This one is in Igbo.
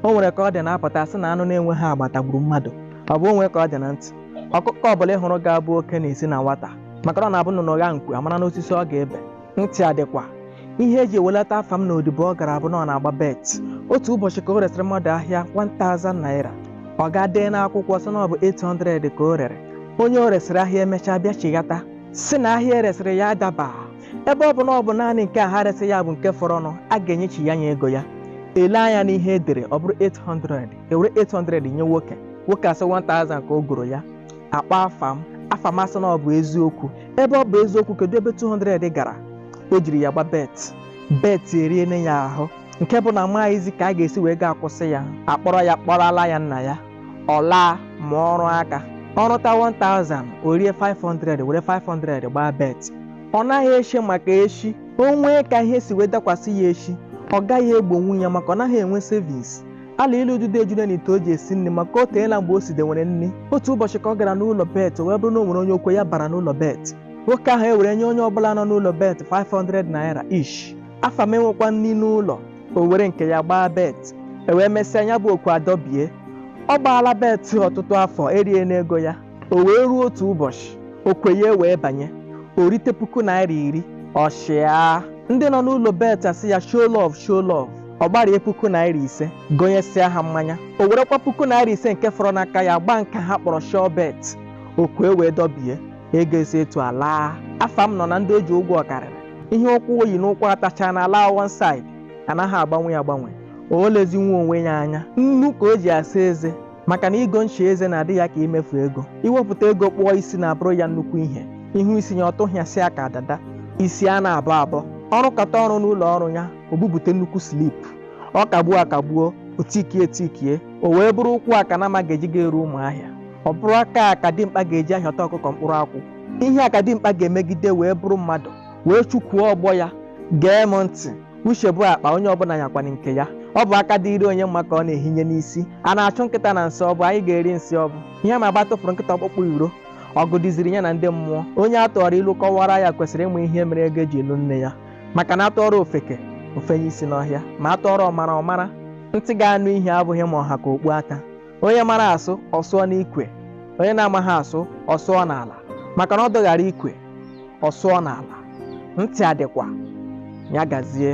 o nwere ka ọ dị na-apụta sị na anụ na-enweghị agba tagburu mmadụ ọ bụ o nwe ka ọ dị na ntị ọkụkọ ọbụla ị hụrụ ga-abụ oke na-esi na nwata maka na ọ na-abụ nnụnụ gha nku amara n'osisi ọ ga-ebe ntị adịkwa ihe eji ewelata afam n'odibo ọ gara abụ na ọ na-agba bet otu ụbọchị ka o resịrị mmadụ ahịa 1000 naira ọ gaa dee n'akwụkwọ sị na ọ bụ 800 ka o rere onye o resịrị ahịa emechaa bịa chighata sị na ahịa eresịrị ya adaba ebe ọ bụ na ọ bụ naanị nke a ha resị ya bụ nke fọrọnụ a ga-enyechiya nya ego ya ele anya n'ihe edere ọ bụrụ 800 ewere 800 nye nwoke nwoke asị 1000 ka o goro ya akpọọ afam afam asị na ọ bụ eziokwu ebe ọ bụ eziokwu kedu ebe 200 gara o jiri ya gbaa bet bet eriene ya ahụ nke bụ na amaghịzi ka a ga-esi wee gaa kwụsị ya akpọrọ ya kpọrọla ya nna ya ọ laa mụa ọrụ aka ọ rụta 1000 o rie 500 were 500 gbaa bet ọ naghị eche maka echi o nwee ka ihe si wee dakwasị ya echi ọ gaghị egbonwu ya maka ọ naghị enwe savings ala ilu ududo ejune n'ite o ji esi nri maka o teela mgbe o sidewere nri otu ụbọchị ka ọ gara n'ụlọ bet wee bụrụ na o nwere onye okwe ya bara n'ụlọ bet nwoke ahụ ewere nye onye ọbụla nọ n'ụlọ bet 500 naira each afam enwekwa nri n'ụlọ o were nke ya gbaa bet ewee mesịa ya bụ okwe adọbie ọ gbaala bet ọtụtụ afọ eriene ego ya o wee ruo otu ụbọchị okwe ya wee banye o rite puku naira iri ọ chịa ndị nọ n'ụlọ bet asị ya show love show love ọ gbarie puku naira ise gonyesịa ha mmanya o werekwa puku naira ise nke fọrọ n'aka ya gbaa nke ha kpọrọ sure bet okwe wee dọbie ego esi etu ala afam nọ na ndị o ji ụgwọ karịrị ihe ụkwụ o yi n'ụkwụ atacha na ala one side anaghị agbanwe agbanwe o lezinwe onwe ya anya nnu ka o ji asa eze maka na igo ncha eze na-adị ya ka imefu ego iwepụta ego kpụọ isi na-abụrụ ya nnukwu ihe ị hụ isi ya ọ tụhịasịa ka dada isi a na-abọ abọ ọ rụkata ọrụ n'ụlọ ọrụ ya o bupute nnukwu slip ọ kagbuo akagbuo o tikie etikie o wee bụrụ ụkwụ a ka nama ga-eji ga-eru ụmụahịa ọ bụrụ aka a ka dimkpa ga-eji ahịọta ọkụkọ mkpụrụ akwụ ihe a ka dimkpa ga-emegide wee bụrụ mmadụ wee chụkwuo ọgbọ ya gee m ntị uche bụ akpa onye ọbụla nyakwana nke ya ọ bụ aka dịrị onye mma ka ọ na-ehinye n'isi a na-achụ nkịta na nsị ọ bụ anyị ga-eri nsị ọ bụ ihe ma agba tụfụrụ nkịta ọkpụkpụ iro ọgụ dịziri ya na ndị mmụọ onye a tụọrọ ilu kọwara ya kwesịrị ịmụ ihe mere ego eji lụ nne ya maka na atụọrọ ofeke o fenye isi n'ọhịa ma atụọrọ ọmara ọ mara ntị ga-anụ ihe abụghị ma ọ ha ka okpu ata onye mara asụ ọ sụọ n'ikwe onye na-amaghị asụ ọ sụọ n'ala maka na ọdụ ghara ikwe ọ sụọ n'ala ntị adịkwa ya gazie